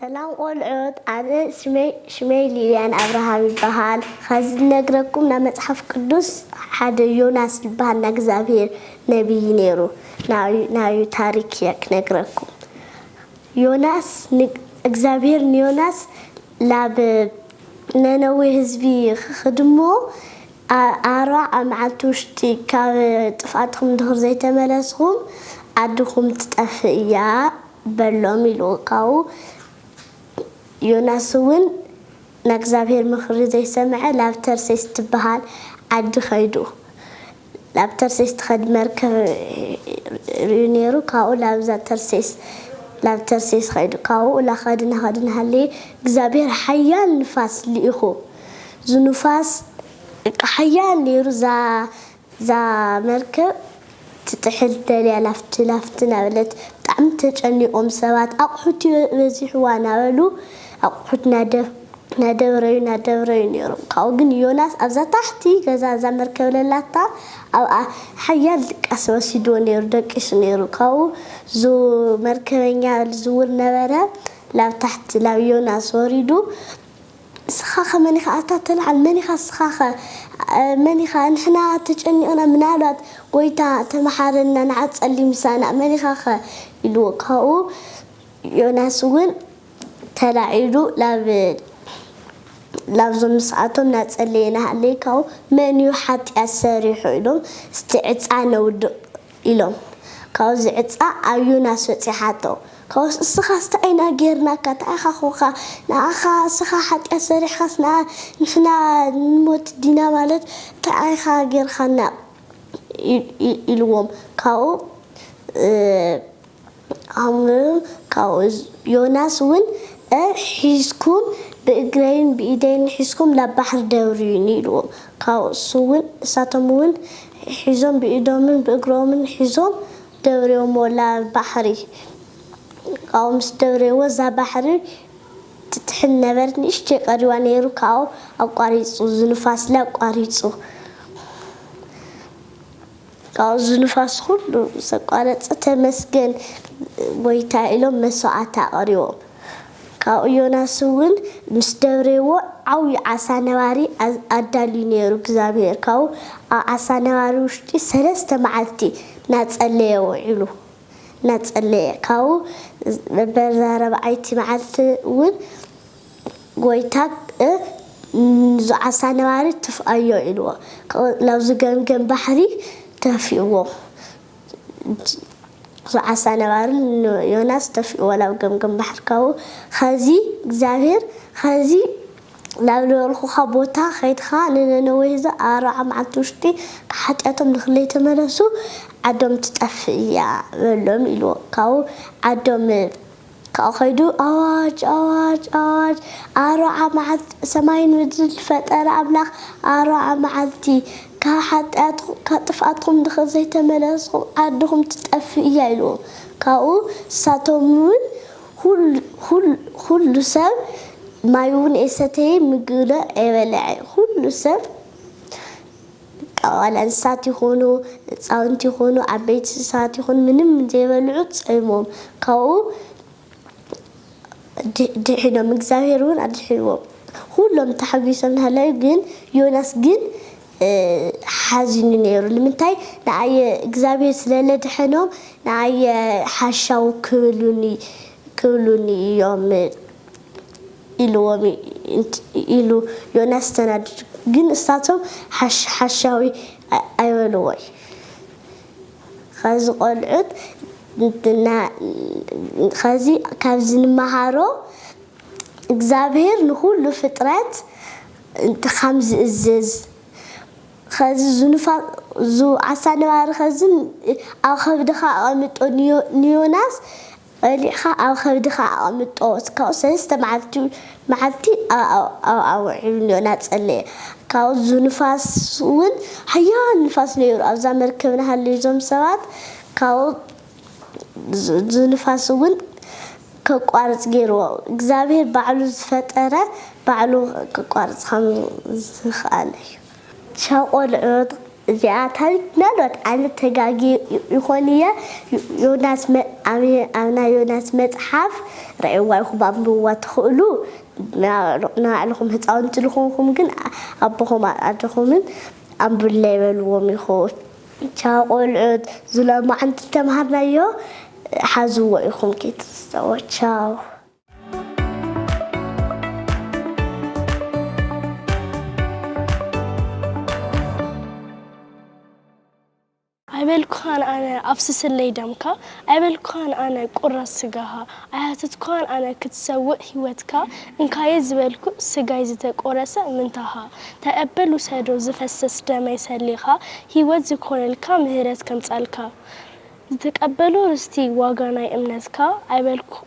ሰላም ቆልዑት ኣነ ስመይ ሽመይ ሊልያን ኣብርሃም ይበሃል ኸዚ ልነግረኩም ናብ መፅሓፍ ቅዱስ ሓደ ዮናስ ልበሃል ናይ እግዚኣብሔር ነብይ ነይሩ ናዩ ታሪክ እየ ክነግረኩም ዮናስ እግዚኣብሔር ንዮናስ ላብ ነነዌ ህዝቢ ኽድሞ ኣርባዓ መዓልቲ ውሽጢ ካብ ጥፍኣትኹም ድኽር ዘይተመለስኹም ዓድኹም ትጠፍእ እያ በሎም ኢሉ ካብኡ ዮናስ እውን ናይ እግዚኣብሄር ምኽሪ ዘይሰምዐ ናብ ተርሴስ እትበሃል ዓዲ ከይዱ ናብ ተርሴስ ትኸድ መርከብ ርእዩ ነይሩ ካብኡ ናብዛ ተርሴስ ናብ ተርሴስ ከይዱ ካብኡ ናኸደ ናኸደ ናሃለየ እግዚኣብሄር ሓያል ንፋስ ልኢኹ ዝኑፋስ ሓያል ነይሩ እዛ እዛ መርከብ ትጥሕል ደልያ ላፍቲ ላፍቲ እናበለት ብጣዕሚ ተጨኒቆም ሰባት ኣቁሑት በዚሕዋ እናበሉ ኣቁሑት እናደብረዩ እናደብረዩ ነይሮም ካብኡ ግን ዮናስ ኣብዛ ታሕቲ ገዛ እዛ መርከብ ለላታ ኣብኣ ሓያል ድቃስ ወሲድዎ ነይሩ ደቂሱ ነይሩ ካብኡ ዙ መርከበኛ ዝውር ነበረ ላብ ታሕቲ ላብ ዮናስ ወሪዱ ንስኻኸ መን ኢኻ ኣታ ተልዓል መን ኢኻ ንስኻኸ መን ኢኻ ንሕና ተጨኒቕና ምናልባት ጎይታ ተማሓረና ንዓ ጸሊ ምሳና መን ኢኻኸ ኢልዎ ካብኡ ዮናስ ውን ተላዒሉ ናብ ናብዞም ምስኣቶም ናጸለየ ናሃለየ ካብኡ መን እዩ ሓጥያት ሰሪሑ ኢሎም እስቲ ዕጻ ነውድቕ ኢሎም ካብኡ ዝዕጻ ኣብ ዮናስ በጺሓቶ ካብኡስ እስኻስ ታይ ኢና ጌርናካ ተኣኻኹካ ንኣኻ እስኻ ሓጥያት ሰሪሕኻስ ንኣ ንሕና ንሞት ዲና ማለት ታይ ኢኻ ጌርኻና ኢልዎም ካብኡ ኣምርም ካብኡ ዮናስ እውን እ ሒዝኩም ብእግረይን ብኢደይን ሒዝኩም ናብ ባሕሪ ደርብዩኒ ኢልዎም ካብኡ እሱ እውን እሳቶም እውን ሒዞም ብኢዶምን ብእግሮምን ሒዞም ደብርዮምዎ ላብ ባሕሪ ካብኡ ምስ ደብርዮዎ እዛ ባሕሪ ትጥሕል ነበርት ንእሽተይ ቀሪዋ ነይሩ ካብኡ ኣቋሪፁ ዝንፋስለ ኣቋሪፁ። ካብኡ እዚ ንፋስ ኹሉ ምስ ኣቋረጸ ተመስገን ጎይታይ ኢሎም መስዋዕቲ ኣቕሪቦም። ካብኡ ዮናስ እውን ምስ ደብሬዎ ዓብዩ ዓሳ ነባሪ ኣዳልዩ ነይሩ እግዚኣብሄር ካብኡ ኣብ ዓሳ ነባሪ ውሽጢ ሰለስተ መዓልቲ እናጸለየ ውዒሉ እናጸለየ ካብኡ በዛ ራብዓይቲ መዓልቲ እውን ጎይታ እ ንዙ ዓሳ ነባሪ ትፍኣዮ ኢልዎ ከእ ናብዙ ገምገም ባሕሪ ተፊእዎ ዙ ዓሳ ነባሪ ን ዮናስ ተፊእዎ ናብ ገምገም ባሕሪ ካብኡ ኸዚ እግዚኣብሔር ኸዚ ናብ ልበልኹኻ ቦታ ኸይድኻ ንነነዌ ህዝቢ ኣብ ኣርብዓ መዓልቲ ውሽጢ ካብ ሓጢኣቶም ንክለይ ተመለሱ ዓዶም ትጠፍእ እያ በሎም ኢልዎ ካብኡ ዓዶም ካኡ ከይዱ ኣዋጅ ኣዋጅ ኣዋጅ ኣርብዓ መዓልቲ ሰማይን ምድርን ዝፈጠረ ኣምላኽ ኣርብዓ መዓልቲ ካብ ሓጥያትኩም ካብ ጥፍኣትኩም ድሕሪ ዘይተመለስኩም ዓድኹም ትጠፍእ እያ ኢልዎም ካኡ ንሳቶም ውን ኹሉ ኹሉ ኹሉ ሰብ ማይ ውን ኣይሰተየ ምግቢ ን ኣይበለዐ ኹሉ ሰብ ቀዋል ኣንስሳት ይኹኑ ህፃውንቲ ይኹኑ ዓበይቲ ስሳት ይኹን ምንም ዘይበልዑ ፀይሞም ካብኡ ድሒኖም እግዚኣብሔር እውን ኣድሒንዎም ኹሎም ተሓጒሶም ናሃለዩ ግን ዮናስ ግን ሓዚኑ ነይሩ ንምንታይ ንኣየ እግዚኣብሔር ስለለድሐኖም ንኣየ ሓሻው ክብሉኒ ክብሉኒ እዮም ኢልዎም እዩ ኢሉ ዮናስ ተናዲዱ። ግን ንሳቶም ሓሽ ሓሻዊ ኣይበልዎይ። ኸዚ ቆልዑት ና ኸዚ ካብዚ ንመሃሮ እግዚኣብሄር ንኹሉ ፍጥረት ኻም ዝእዝዝ ኸዚ ዝኑፋ ዙ ዓሳ ነባሪ ኸዚ ኣብ ኸብድኻ ኣቐምጦ ንዮ ንዮናስ ኣውሊዕካ ኣብ ከብድኻ ኣቐምጦ፣ ካብኡ ሰለስተ መዓልቲ መዓልቲ ኣብ ኣውዒሉኒ እናጸለየ፣ ካብኡ እዚ ንፋስ'ውን ሓያል ንፋስ ነይሩ፣ ኣብዛ መርከብ እናሃለዩ እዞም ሰባት ካብኡ እዚ ንፋስ'ውን ከቋርጽ ገይርዎ፣ እግዚኣብሄር ባዕሉ ዝፈጠረ ባዕሉ ከቋርጽ ከም ዝኽኣል እዩ። ቻው ቆልዑት እዚኣ ታሪክ ምናልባት ኣነ ተጋግየ ይኮን እየ ዮናስ ኣብ ናይ ዮናስ መጽሓፍ ረእዋ ኢኩም ኣንብብዋ ትክእሉ ንባዕልኩም ህጻውንቲ ዝኮንኩም ግን ኣቦኩም ኣደኩምን ኣንብብለይ በልዎም ኢኩም ቻው ቆልዑት ዝሎማዓንቲ ዝተምሃርናዮ ሓዝዎ ኢኩም ኪትዝተዎ ቻው። ኣይበልኩኻን ኣነ ኣፍስሰለይ ደምካ ኣይበልኩኻን ኣነ ቁረስ ስጋኻ ኣይሃተትኩኻን ኣነ ክትሰውእ ሂወትካ እንካየ ዝበልኩ ስጋይ ዝተቆረሰ ምንታኻ ተቀበል ውሰዶ ዝፈሰስ ደመይ ሰሊኻ ሂወት ዝኾነልካ ምህረት ከምጻልካ ዝተቀበሎ ርስቲ ዋጋ ናይ እምነትካ ኣይበልኩኻን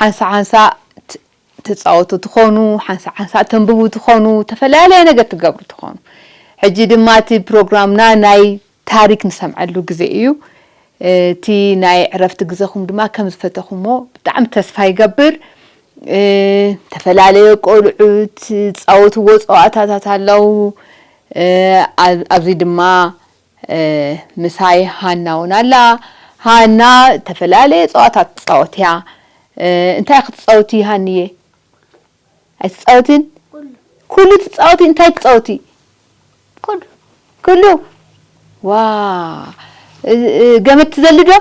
ሓንሳእ ሓንሳእ ትጻወቱ ትኾኑ፣ ሓንሳእ ሓንሳእ ተንብቡ ትኾኑ፣ ተፈላለየ ነገር ትገብሩ ትኾኑ። ሕጂ ድማ እቲ ፕሮግራምና ናይ ታሪክ ንሰምዐሉ ግዜ እዩ። እቲ ናይ ዕረፍቲ ግዘኹም ድማ ከም ዝፈተኹሞ ብጣዕሚ ተስፋ ይገብር። ዝተፈላለየ ቆልዑት ዝጻወትዎ ጸዋታታት ኣለው። ኣብዚ ድማ ምሳይ ሃና እውን ኣላ። ሃና እተፈላለየ ጸዋታት ትጻወት እያ። እንታይ ክትጻውቲ ሃኒየ? ኣይትጻወቲን? ኩሉ ትጻወቲ? እንታይ ትጻወቲ? ኩሉ ኩሉ ዋ ገመድ ትዘሊ ዶ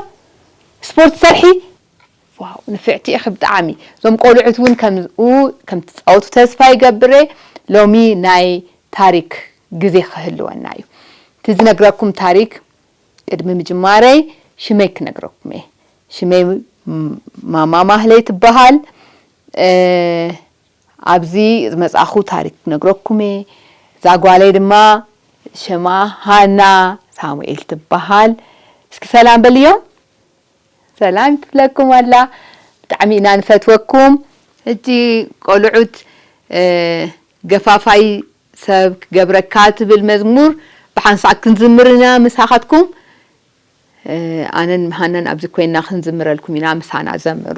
ስፖርት ትሰርሒ? ዋው ንፍዕቲ ኢኪ ብጣዓሚ ዞም ቆሉዑት ውን ከምዝኡ ከም ትጻወቱ ተስፋ ይገብር እየ ሎሚ ናይ ታሪክ ግዜ ክህልወና እዩ እቲ ዝነግረኩም ታሪክ ቅድሚ ምጅማረይ ሽመይ ክነግረኩም እየ ሽመይ ማማ ማህለይ ትባሃል ኣብዚ ዝመጻኩ ታሪክ ክነግረኩም እየ እዛ ጓለይ ድማ ሽማ ሃና ሳሙኤል ትባሃል እስኪ ሰላም በልዮም። ሰላም ትብለኩም ኣላ ብጣዕሚ ኢና ንፈትወኩም። ሕጂ ቆሉዑት ገፋፋይ ሰብ ክገብረካ ትብል መዝሙር ብሓንሳእ ክንዝምር ኢና ምሳካትኩም ኣነን ሃናን ኣብዚ ኮይና ክንዝምረልኩም ኢና ምሳና ዘምሩ።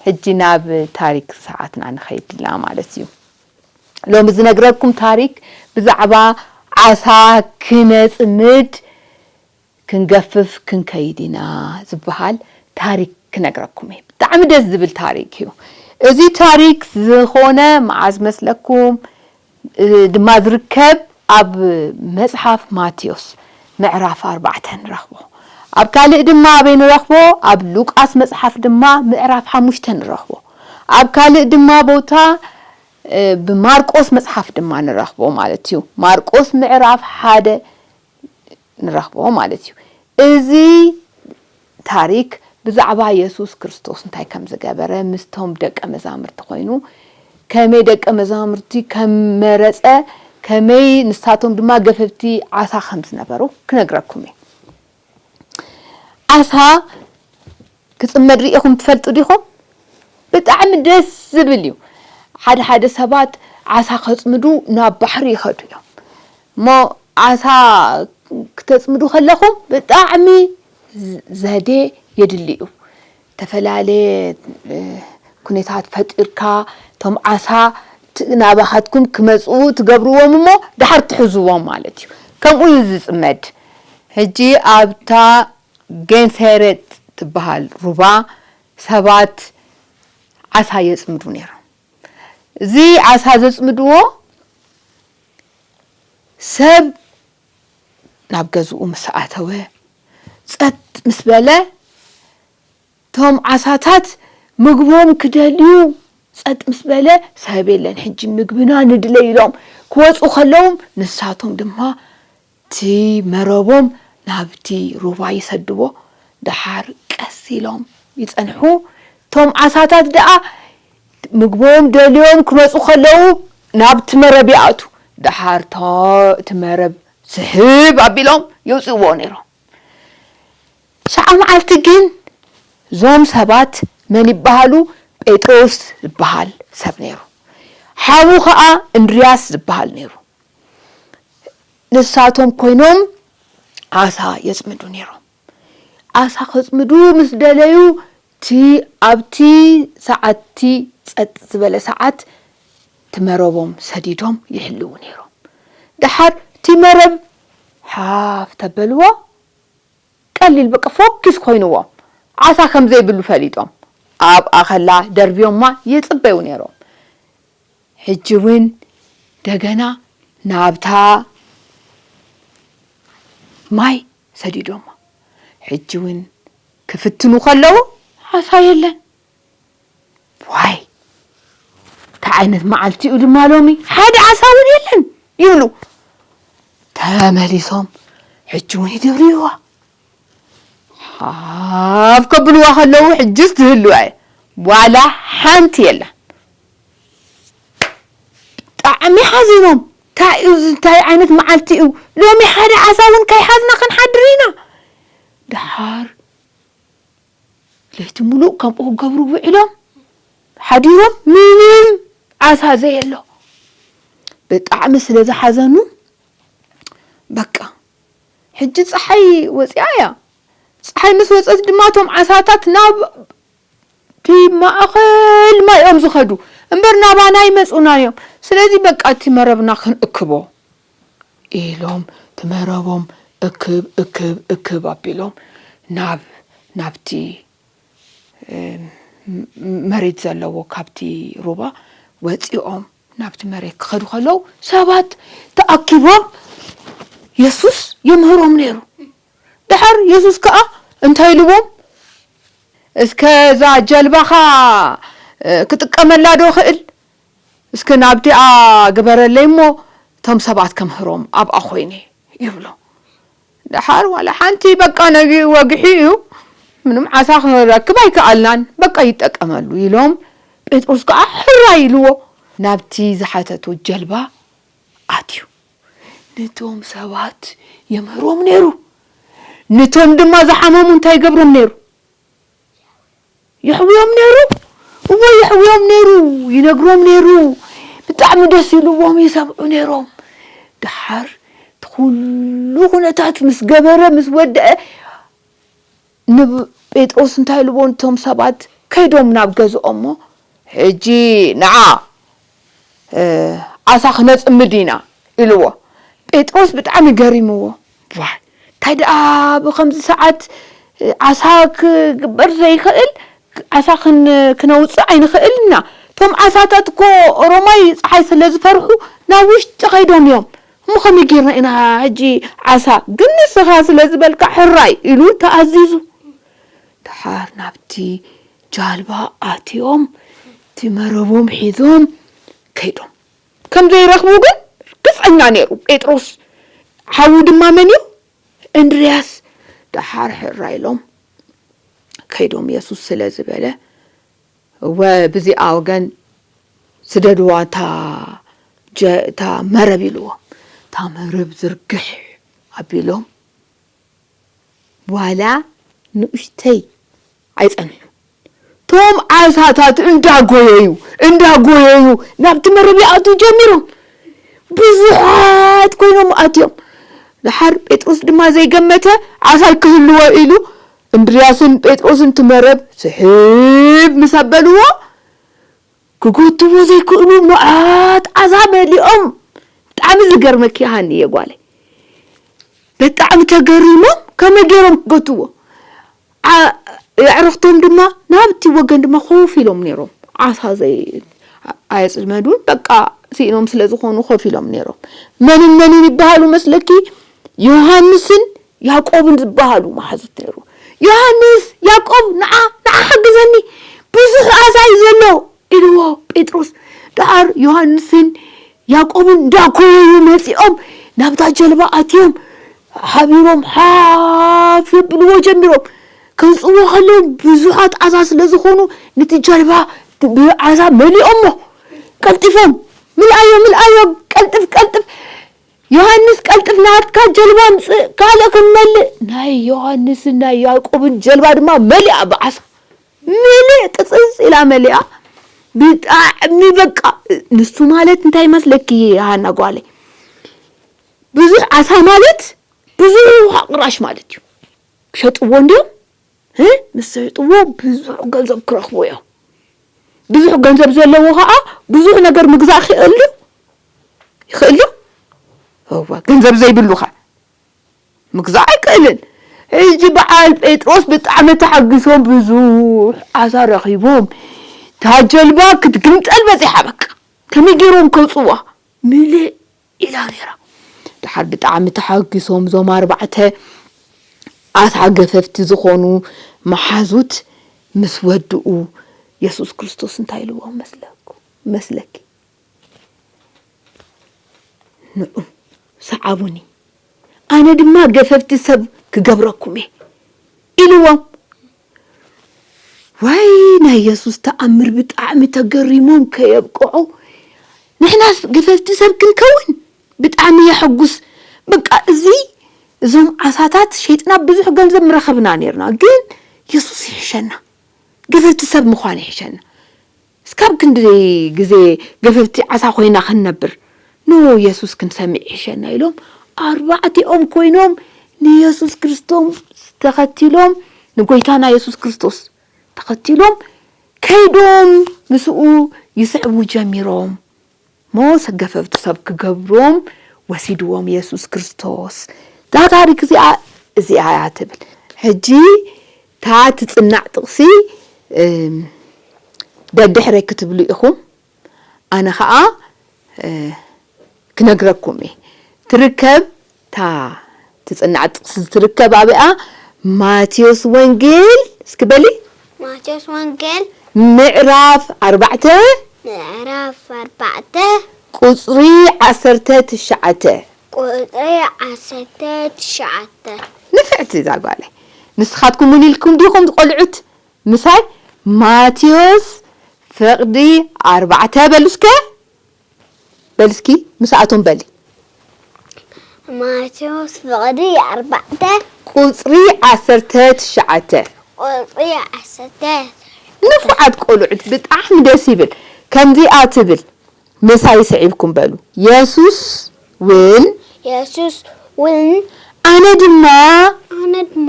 ሕጂ ናብ ታሪክ ሰዓትና ንኸይድላ ማለት እዩ። ሎሚ ዝነግረኩም ታሪክ ብዛዕባ ዓሳ ክነጽምድ ክንገፍፍ ክንከይድ ኢና ዝብሃል ታሪክ ክነግረኩም እየ። ብጣዕሚ ደስ ዝብል ታሪክ እዩ። እዚ ታሪክ ዝኾነ መዓዝ መስለኩም ድማ ዝርከብ ኣብ መጽሓፍ ማቴዎስ ምዕራፍ ኣርባዕተ ንረኽቦ። ኣብ ካልእ ድማ ኣበይ ንረኽቦ? ኣብ ሉቃስ መጽሓፍ ድማ ምዕራፍ ሓሙሽተ ንረኽቦ። ኣብ ካልእ ድማ ቦታ ብማርቆስ መጽሓፍ ድማ ንረኽቦ ማለት እዩ። ማርቆስ ምዕራፍ ሓደ ንረኽቦ ማለት እዩ። እዚ ታሪክ ብዛዕባ የሱስ ክርስቶስ እንታይ ከም ዝገበረ፣ ምስቶም ደቀ መዛሙርቲ ኮይኑ ከመይ ደቀ መዛሙርቲ ከም መረጸ፣ ከመይ ንሳቶም ድማ ገፈፍቲ ዓሳ ከም ዝነበሩ ክነግረኩም እየ። ዓሳ ክጽመድ ሪኢኹም ትፈልጡ ዲኹም? ብጣዕሚ ደስ ዝብል እዩ ሓደ ሓደ ሰባት ዓሳ ከጽምዱ ናብ ባሕሪ ይኸዱ እዮም እሞ ዓሳ ክተጽምዱ ከለኹም ብጣዕሚ ዘዴ የድሊ እዩ ዝተፈላለየ ኩነታት ፈጢርካ እቶም ዓሳ ናባኻትኩም ክመጽኡ ትገብርዎም እሞ ደሓር ትሕዝዎም ማለት እዩ ከምኡ እዩ ዝጽመድ ሕጂ ኣብታ ጌንሴሬጥ ትበሃል ሩባ ሰባት ዓሳ የጽምዱ ነይሮም። እዚ ዓሳ ዘጽምድዎ ሰብ ናብ ገዝኡ ምስ ኣተወ ጸጥ ምስ በለ እቶም ዓሳታት ምግቦም ክደልዩ ጸጥ ምስ በለ ሰብ የለን ሕጂ ምግብና ንድለይ ኢሎም ክወጹ ከለዉ ንሳቶም ድማ እቲ መረቦም ናብቲ ሩባ ይሰድዎ፣ ደሓር ቀስ ኢሎም ይጸንሑ፣ እቶም ዓሳታት ደኣ ምግቦም ደልዮም ክመጹ ከለዉ ናብቲ መረብ ይኣትዉ፣ ደሓር እቲ መረብ ስሕብ ኣቢሎም የውጽእዎ ነይሮም። ሸዓ መዓልቲ ግን እዞም ሰባት መን ይበሃሉ ጴጥሮስ ዝበሃል ሰብ ነይሩ፣ ሓዉ ከኣ እንድርያስ ዝበሃል ነይሩ። ንሳቶም ኮይኖም ዓሳ የጽምዱ ነይሮም። ዓሳ ከጽምዱ ምስ ደለዩ እቲ ኣብቲ ሰዓትቲ ጸጥ ዝበለ ሰዓት እቲ መረቦም ሰዲዶም ይሕልዉ ነይሮም። ደሓር እቲ መረብ ሓፍ ተበልዋ ቀሊል በቃ ፎኪስ ኮይንዎም ዓሳ ከምዘይብሉ ፈሊጦም ኣብኣ ከላ ደርብዮማ ይጽበዩ ነይሮም። ሕጂ ውን ደገና ናብታ ማይ ሰዲዶማ ሕጂ ውን ክፍትኑ ከለዉ ዓሳ የለን ዋይ ታይ ዓይነት ማዓልቲ ዩ ድማ ሎሚ ሓደ ዓሳ ውን የለን ይብሉ ተመሊሶም ሕጂ ውን ይድርብይዋ ሃፍ ከብልዋ ከለዉ ሕጅስ ዝህልወ ዋላ ሓንቲ የላን ብጣዕሚ ሓዚኖም ታይ እዩ እዚ ታይ ዓይነት መዓልቲ እዩ ሎሚ ሓደ ዓሳ እውን ከይሓዝና ክንሓድር ኢና ደሓር ለይቲ ሙሉእ ከምኡ ክገብሩ ውዒሎም ሓዲሮም ምንም ዓሳ ዘየሎ ብጣዕሚ ስለ ዝሓዘኑ በቃ ሕጂ ጸሓይ ወጺኣ እያ። ጸሓይ ምስ ወጸት ድማ እቶም ዓሳታት ናብቲ ማእከል ማይ እዮም ዝኸዱ እምበር ናባና ኣይመጹናን እዮም። ስለዚ በቃ እቲ መረብና ክንእክቦ ኢሎም እቲ መረቦም እክብ እክብ እክብ ኣቢሎም ናብ ናብቲ መሬት ዘለዎ ካብቲ ሩባ ወጺኦም ናብቲ መሬት ክኸዱ ከለዉ ሰባት ተኣኪቦም የሱስ የምህሮም ነይሩ። ድሓር የሱስ ከኣ እንታይ ኢልዎም? እስከ እዛ ጀልባኻ ክጥቀመላ ዶ እኽእል? እስከ ናብቲኣ ግበረለይ እሞ እቶም ሰባት ከምህሮም ኣብኣ ኮይነ ይብሎ። ደሓር ዋላ ሓንቲ በቃ ነጊኡ ወግሒ እዩ ምንም ዓሳ ክንረክብ ኣይከኣልናን በቃ ይጠቀመሉ ኢሎም ጴጥሮስ ከኣ ሕራይ ኢልዎ ናብቲ ዝሓተቶ ጀልባ ኣትዩ ንቶም ሰባት የምህሮም ነይሩ ንቶም ድማ ዝሓመሙ እንታይ ይገብሮም ነይሩ። የሕውዮም ነይሩ እወ የሕውዮም ነይሩ ይነግሮም ነይሩ ብጣዕሚ ደስ ኢልዎም ይሰምዑ ነይሮም ደሓር እቲ ኩሉ ኩነታት ምስ ገበረ ምስ ወድአ ንጴጥሮስ እንታይ ኢልዎ እቶም ሰባት ከይዶም ናብ ገዝኦሞ ሕጂ ንዓ ዓሳ ክነጽምድ ኢና ኢልዎ። ጴጥሮስ ብጣዕሚ ገሪምዎ ዋይ እንታይ ደኣ ብከምዚ ሰዓት ዓሳ ክግበር ዘይክእል ዓሳ ክነውጽእ ኣይንክእልን ኢና እቶም ዓሳታት እኮ ኦሮማይ ጸሓይ ስለ ዝፈርሑ ናብ ውሽጢ ከይዶም እዮም እሞ ከመይ ጌርና ኢና ሕጂ ዓሳ ግን ንስኻ ስለ ዝበልካ ሕራይ ኢሉ ተኣዚዙ። ደሓር ናብቲ ጃልባ ኣትዮም እቲ መረቦም ሒዞም ከይዶም ከም ዘይረኽቡ ግን ርግጸኛ ነይሩ። ጴጥሮስ ሓዉ ድማ መን እዩ? እንድርያስ ደሓር ሕራይ ኢሎም ከይዶም የሱስ ስለ ዝበለ እወ ብዚኣ ወገን ስደድዋ እታ እታ መረብ ኢልዎም እታ መረብ ዝርግሕ ኣቢሎም ዋላ ንኡሽተይ ኣይጸንሑን። እቶም ዓሳታት እንዳጎየዩ እንዳጎየዩ ናብቲ መረብ ይኣትዉ ጀሚሮም። ብዙሓት ኮይኖም ኣትዮም። ደሓር ጴጥሮስ ድማ ዘይገመተ ዓሳ ኣይክህልዎ ኢሉ እንድርያስን ጴጥሮስን እቲ መረብ ስሕብ ምስ ኣበልዎ ክጎትዎ ዘይክእሉ መዓት ኣዛ መሊኦም ብጣዕሚ ዝገርመኪ ሃኒየ ጓለይ ብጣዕሚ ተገሪሞም ከመይ ገይሮም ክገትዎ ዓ የዕርኽቶም ድማ ናብቲ ወገን ድማ ኮፍ ኢሎም ነይሮም ዓሳ ዘይ ኣየፅመዱን በቃ ስኢኖም ስለ ዝኾኑ ኮፍ ኢሎም ነይሮም መንን መንን ይበሃሉ መስለኪ ዮሃንስን ያቆብን ዝበሃሉ መሓዙት ነይሩ። ዮሃንስ፣ ያቆብ ንዓ ንዓ ሓግዘኒ፣ ብዙሕ ዓሳ እዩ ዘሎ ኢልዎ ጴጥሮስ። ደሓር ዮሃንስን ያቆብን እንዳኮረዩ መጺኦም ናብታ ጀልባ ኣትዮም ሓቢሮም ሓፍ የብልዎ ጀሚሮም። ከውጽዎ ከለዉ ብዙሓት ዓሳ ስለ ዝኾኑ ነቲ ጀልባ ብዓሳ መሊኦሞ። ቀልጢፎም ምልኣዮ ምልኣዮ ቀልጥፍ ቀልጥፍ ዮሃንስ ቀልጥፍ ናትካ ጀልባ ኣምጽእ ካልእ ክንመልእ ናይ ዮሃንስን ናይ ያእቆብን ጀልባ ድማ መሊኣ ብዓሳ ምልእ ቅጽጽ ኢላ መሊኣ ብጣዕሚ በቃ ንሱ ማለት እንታይ መስለኪ ሃና ጓለይ ብዙሕ ዓሳ ማለት ብዙሕ ውሃ ቅራሽ ማለት እዩ ክሸጥዎ እንዲዮም ምስ ሸይጥዎ ብዙሕ ገንዘብ ክረኽቡ እዮም። ብዙሕ ገንዘብ ዘለዎ ከዓ ብዙሕ ነገር ምግዛእ ክእሉ ይኽእሉ እወ ገንዘብ ዘይብሉኸ ምግዛእ ኣይክእልን ሕጂ በዓል ጴጥሮስ ብጣዕሚ ተሓጒሶም ብዙሕ ዓሳ ረኺቦም እታ ጀልባ ክትግምጠል በጺሓ በቃ ከመይ ገይሮም ከውጽዋ ምልእ ኢላ ነይራ። ደሓር ብጣዕሚ ተሓጊሶም እዞም ኣርባዕተ ኣታ ገፈፍቲ ዝኾኑ መሓዙት ምስ ወድኡ የሱስ ክርስቶስ እንታይ ኢልዎም መስለኩም መስለኪ ንዑ ሰዓቡኒ ኣነ ድማ ገፈፍቲ ሰብ ክገብረኩም እየ ኢልዎም። ዋይ ናይ የሱስ ተኣምር ብጣዕሚ ተገሪሞም ከየብቅዑ ንሕናስ ገፈፍቲ ሰብ ክንከውን ብጣዕሚ የሐጉስ በቃ እዚ እዞም ዓሳታት ሸይጥና ብዙሕ ገንዘብ ምረኸብና ኔርና ግን የሱስ ይሕሸና ገፈፍቲ ሰብ ምዃን ይሕሸና እስካብ ክንድዚ ግዜ ገፈፍቲ ዓሳ ኮይና ክንነብር ን የሱስ ክንሰሚ ይሕሸና ኢሎም ኣርባዕቲኦም ኮይኖም ንየሱስ ክርስቶስ ተከቲሎም ንጎይታና የሱስ ክርስቶስ ተከቲሎም ከይዶም ምስኡ ይስዕቡ ጀሚሮም። ሞት ገፈፍቱ ሰብ ክገብሮም ወሲድዎም የሱስ ክርስቶስ እዛ ታሪክ እዚኣ እዚኣ እያ ትብል ሕጂ እታ ትጽናዕ ጥቅሲ ደድሕረይ ክትብሉ ኢኩም ኣነ ከኣ ክነግረኩም እየ ትርከብ እታ ትጽናዕ ጥቅሲ ዝትርከብ ኣበይ'ያ? ማቴዎስ ወንጌል እስኪ በሊ። ማቴዎስ ወንጌል። ምዕራፍ ኣርባዕተ። ምዕራፍ ኣርባዕተ። ቁጽሪ ዓሰርተ ትሽዓተ። ቁጽሪ ዓሰርተ ትሽዓተ። ንፍዕቲ እዛ ጓለይ። ንስኻትኩም ውን ኢልኩም ዲኹም ቆልዑት ምሳይ ማቴዎስ ፍቕዲ ኣርባዕተ በሉ እስከ። በሊ እስኪ ምሳኣቶም በሊ። ማቴዎስ ፍቕዲ ኣርባዕተ። ቁጽሪ ዓሰርተ ትሽዓተ። ቁጽሪ ዓሰርተ ትሽዓተ። ንፉዓት ቆልዑት ብጣዕሚ ደስ ይብል ከምዚኣ ትብል ምሳይ ስዒብኩም በሉ የሱስ ውን። የሱስ ውን። ኣነ ድማ። ኣነ ድማ።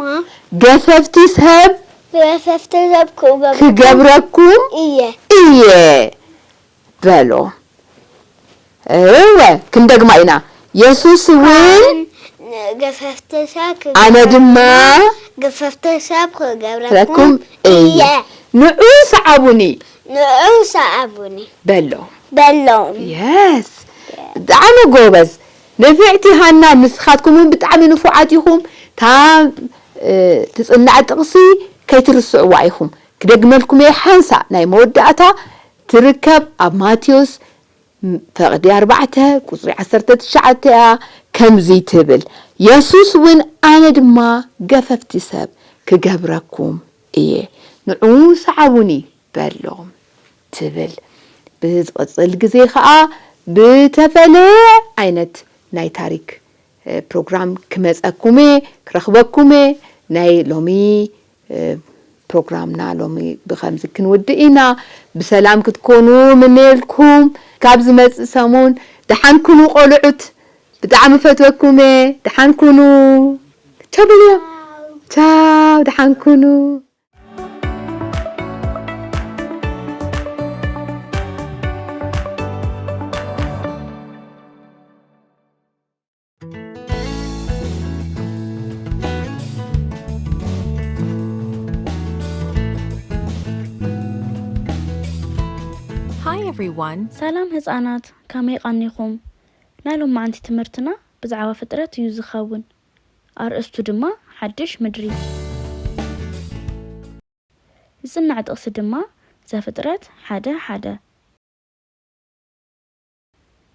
ገፈፍቲ ሰብ። ገፈፍቲ ሰብ ክገብረኩም። ክገብረኩም እየ። እየ። በሎ። እወ፣ ክንደግማ ኢና፣ የሱስ እውን። ን ገፈፍቲ ሰብ ክገብረኩም። ኣነ ድማ። ገፈፍቲ ሰብ ክገብረኩም እየ። ንዑ ሰዓቡኒ። ንዑ ሰዓቡኒ። በሎም። በሎም። Yes! ብጣዕሚ ጎበዝ ንፍዕቲ ሃና ንስኻትኩም ውን ብጣዕሚ ንፉዓት ኢኹም እታ ትጽናዕ ጥቕሲ ከይትርስዕዋ ኢኹም ክደግመልኩም እየ ሓንሳእ ናይ መወዳእታ ትርከብ ኣብ ማቴዎስ ፈቅዲ ኣርባዕተ ቁጽሪ ዓሰርተ ትሽዓተ እያ ከምዚ ትብል የሱስ ውን ኣነ ድማ ገፈፍቲ ሰብ ክገብረኩም እየ ንዑ ሰዓቡኒ በሎም ትብል ብዝቅጽል ግዜ ከኣ ብተፈለየ ዓይነት ናይ ታሪክ ፕሮግራም ክመጸኩም እየ ክረኽበኩም እየ ናይ ሎሚ ፕሮግራምና ሎሚ ብከምዚ ክንውድእ ኢና ብሰላም ክትኮኑ ምነየልኩም ካብ ዝመጽእ ሰሙን ደሓን ኩኑ ቆልዑት ብጣዕሚ ፈትወኩም እየ ደሓን ኩኑ ቻው በልዮ ቻው ደሓን ኩኑ Hi everyone! ሰላም ህጻናት ከመይ ቐኒኹም? ናይ ሎማዕንቲ ትምህርትና ብዛዕባ ፍጥረት እዩ ዝኸውን። ኣርእስቱ ድማ ሓድሽ ምድሪ። ዝጽናዕ ጥቕሲ ድማ ዘፍጥረት ሓደ ሓደ።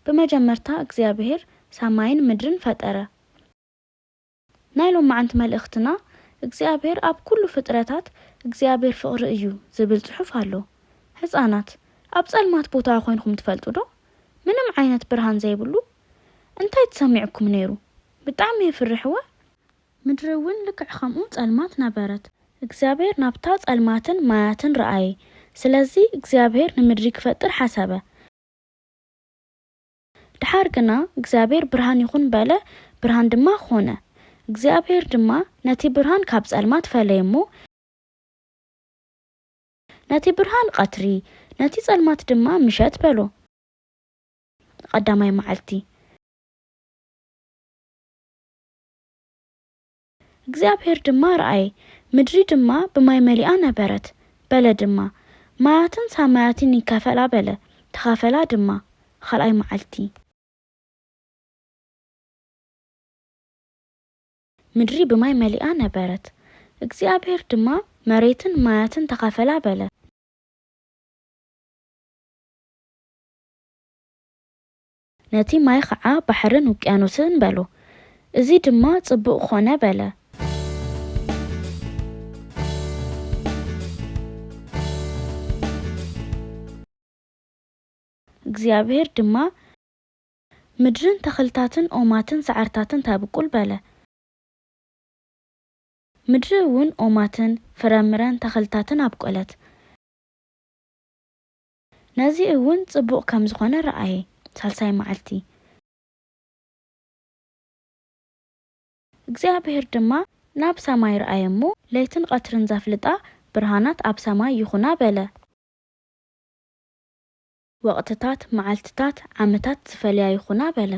ብመጀመርታ እግዚኣብሄር ሰማይን ምድርን ፈጠረ። ናይ ሎማዕንቲ መልእኽትና እግዚኣብሄር ኣብ ኩሉ ፍጥረታት እግዚኣብሄር ፍቕሪ እዩ ዝብል ጽሑፍ ኣሎ። ህጻናት ኣብ ጸልማት ቦታ ኮይንኩም ትፈልጡ ዶ? ምንም ዓይነት ብርሃን ዘይብሉ? እንታይ ትሰሚዕኩም ነይሩ? ብጣዕሚ የፍርሕ እወ። ምድሪ እውን ልክዕ ከምኡ ጸልማት ነበረት። እግዚኣብሄር ናብታ ጸልማትን ማያትን ረኣየ። ስለዚ እግዚኣብሄር ንምድሪ ክፈጥር ሓሰበ። ደሓር ግና እግዚኣብሄር ብርሃን ይኹን በለ፣ ብርሃን ድማ ኾነ። እግዚኣብሄር ድማ ነቲ ብርሃን ካብ ጸልማት ፈለየ እሞ፣ ነቲ ብርሃን ቐትሪ፣ ነቲ ጸልማት ድማ ምሸት በሎ። ቐዳማይ መዓልቲ። እግዚኣብሄር ድማ ረኣየ፣ ምድሪ ድማ ብማይ መሊኣ ነበረት፣ በለ ድማ፣ ማያትን ሳማያትን ይካፈላ በለ፣ ተኻፈላ ድማ። ኻልኣይ መዓልቲ። ምድሪ ብማይ መሊኣ ነበረት፣ እግዚኣብሄር ድማ፣ መሬትን ማያትን ተኻፈላ በለ። ነቲ ማይ ኸዓ ባሕርን ውቅያኖስን በሎ። እዚ ድማ ጽቡቕ ኾነ በለ። እግዚኣብሄር ድማ፣ ምድርን ተኽልታትን ኦማትን ሰዓርታትን ተብቁል በለ። ምድሪ እውን ኦማትን ፍረምረን ተኽልታትን ኣብቆለት። ነዚ እውን ጽቡቕ ከም ዝኾነ ረኣየ። ሳልሳይ መዓልቲ። እግዚኣብሄር ድማ ናብ ሰማይ ረኣየ እሞ፣ ለይትን ቐትርን ዘፍልጣ ብርሃናት ኣብ ሰማይ ይኹና በለ። ወቕትታት፣ መዓልትታት፣ ዓመታት ዝፈልያ ይኹና በለ።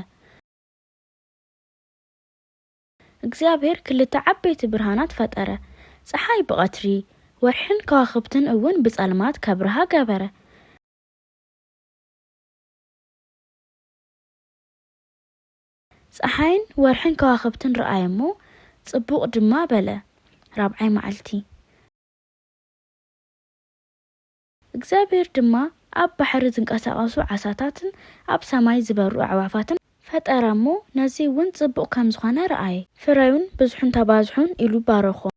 እግዚኣብሄር ክልተ ዓበይቲ ብርሃናት ፈጠረ፣ ጸሓይ ብቐትሪ፣ ወርሕን ከዋኽብትን እውን ብጸልማት ከብርሃ ገበረ። ጸሓይን ወርሕን ከዋኽብትን ረኣየ እሞ፣ ጽቡቕ ድማ በለ። ራብዓይ መዓልቲ። እግዚኣብሄር ድማ ኣብ ባሕሪ ዝንቀሳቐሱ ዓሳታትን ኣብ ሰማይ ዝበሩ ኣዕዋፋትን ፈጠረ እሞ ነዙይውን ፅቡቕ ከም ዝኾነ ረኣየ። ፍረዩን ብዝሑን ተባዝሑን ኢሉ ባረኾም።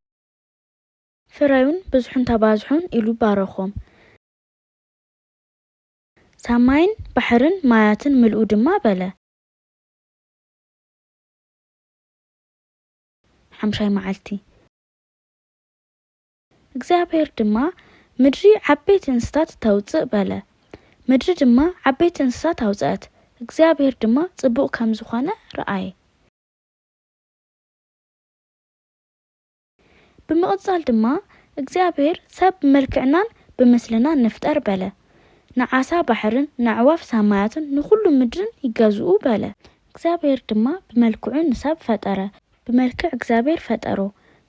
ፍረዩን ብዝሑን ተባዝሑን ኢሉ ባረኾም። ሰማይን ባሕርን ማያትን ምልኡ ድማ በለ። ሓምሻይ መዓልቲ። እግዚኣብሄር ድማ፣ ምድሪ ዓበይቲ እንስሳታት ተውጽእ፣ በለ። ምድሪ ድማ ዓበይቲ እንስሳታት ኣውጽአት፣ እግዚኣብሄር ድማ ጽቡቕ ከም ዝኾነ ረኣየ። ብምቕጻል ድማ፣ እግዚኣብሄር፣ ሰብ ብመልክዕናን ብምስልናን ንፍጠር፣ በለ። ንዓሳ ባሕርን ንኣዕዋፍ ሰማያትን ንኹሉ ምድርን ይገዝኡ፣ በለ። እግዚኣብሄር ድማ ብመልክዑ ንሰብ ፈጠረ፣ ብመልክዕ እግዚኣብሔር ፈጠሮ፣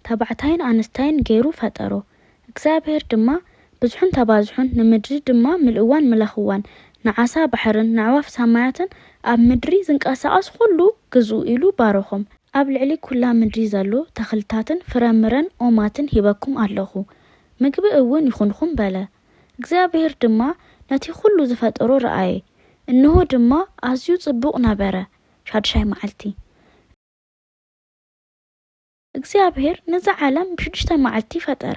ተባዕታይን ኣንስታይን ገይሩ ፈጠሮ። እግዚኣብሔር ድማ፣ ብዝሑን ተባዝሑን፣ ንምድሪ ድማ ምልእዋን ምለኽዋን፣ ንዓሳ ባሕርን ነዕዋፍ ሰማያትን ኣብ ምድሪ ዝንቀሳቐስ ዅሉ ግዝኡ ኢሉ ባረኾም። ኣብ ልዕሊ ኵላ ምድሪ ዘሎ ተኽልታትን ፍረ ምረን ኦማትን ሂበኩም ኣለኹ፣ ምግቢ እውን ይኹንኹም በለ። እግዚኣብሔር ድማ ነቲ ዅሉ ዝፈጠሮ ረኣየ፣ እንሆ ድማ፣ ኣዝዩ ጽቡቕ ነበረ። ሻድሻይ መዓልቲ። እግዚኣብሔር ነዛ ዓለም ብሽዱሽተ መዓልቲ ፈጠረ።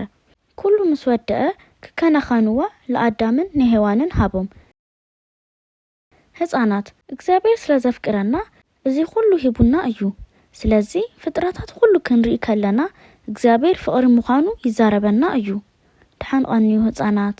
ኩሉ ምስ ወደኣ ክከናኸንዋ ልኣዳምን ንሔዋንን ሃቦም። ህጻናት፣ እግዚኣብሔር ስለ ዘፍቅረና እዚ ኩሉ ሂቡና እዩ። ስለዚ ፍጥረታት ኩሉ ክንርኢ ከለና እግዚኣብሔር ፍቕሪ ምዃኑ ይዛረበና እዩ። ደሓን ቐንዩ ህጻናት።